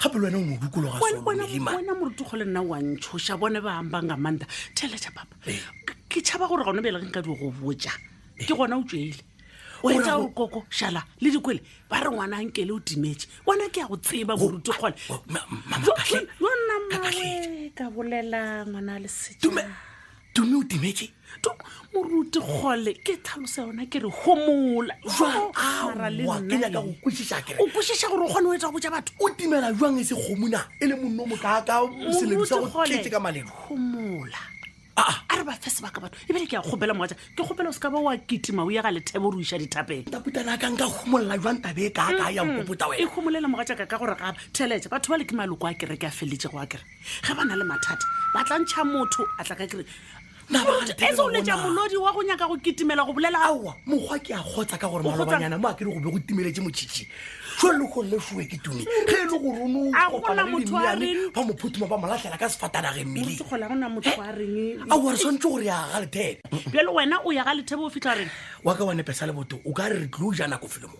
gape le wena o modukologa solomelima morutugo le nna wa ntshoša bone ba ambang ka manta theletša papa eh. ke tšhaba gore gone bjale ge nka dio go botša ke eh. gona o tsweile o etsa gore koko šala le dikwele ba re ngwana nkele o timetse bona ke ya go tseba boruti gole yona mmae ka bolela ngwana le setšaa tume o timetse to moruti kgole ke tlhalosa yona ke re homola Jwang? Mara le Aowa, ke nna nyaka go e. kwešiša kere o kwešiša gore o kgone o etsa go botša batho o timela jwang e se kgomuna e le monno mokaaka seledu sa go Moruti Kgole, tletse ka malelo homola aa a re ba fe sebaka batho ebile ke a kgopela mogatša ke kgopela o se ka ba wa kitima o ye ga lethebo re o iša dithapeng taputana ka nka humolola jwang tabe e kaaka ya nkopota e wena homolela mogatšaka ka gore gaba theletša batho ba le ke maloko a kereke a feletšego a kere ge ba na le mathata ba tla ntšha motho a tla ka kere eso letša molodi wa go nyaka go kitimela go bolela aowa mokgwa ke a kgotsa ka gore malobanyana mo a kere go be go timeletse motšhitšhi tšholokong le foe ke tumi ge e le go rono kopana le lenyane ba mo phuthuma ba mo lahlela ka sefatanageng mmele aowa re tshwanetse gore ya ga lethebe bjale wena o ya ga lethebe o fitlha reng wa ka wa nepesa le boto o ka re re tlo ja nako fele mo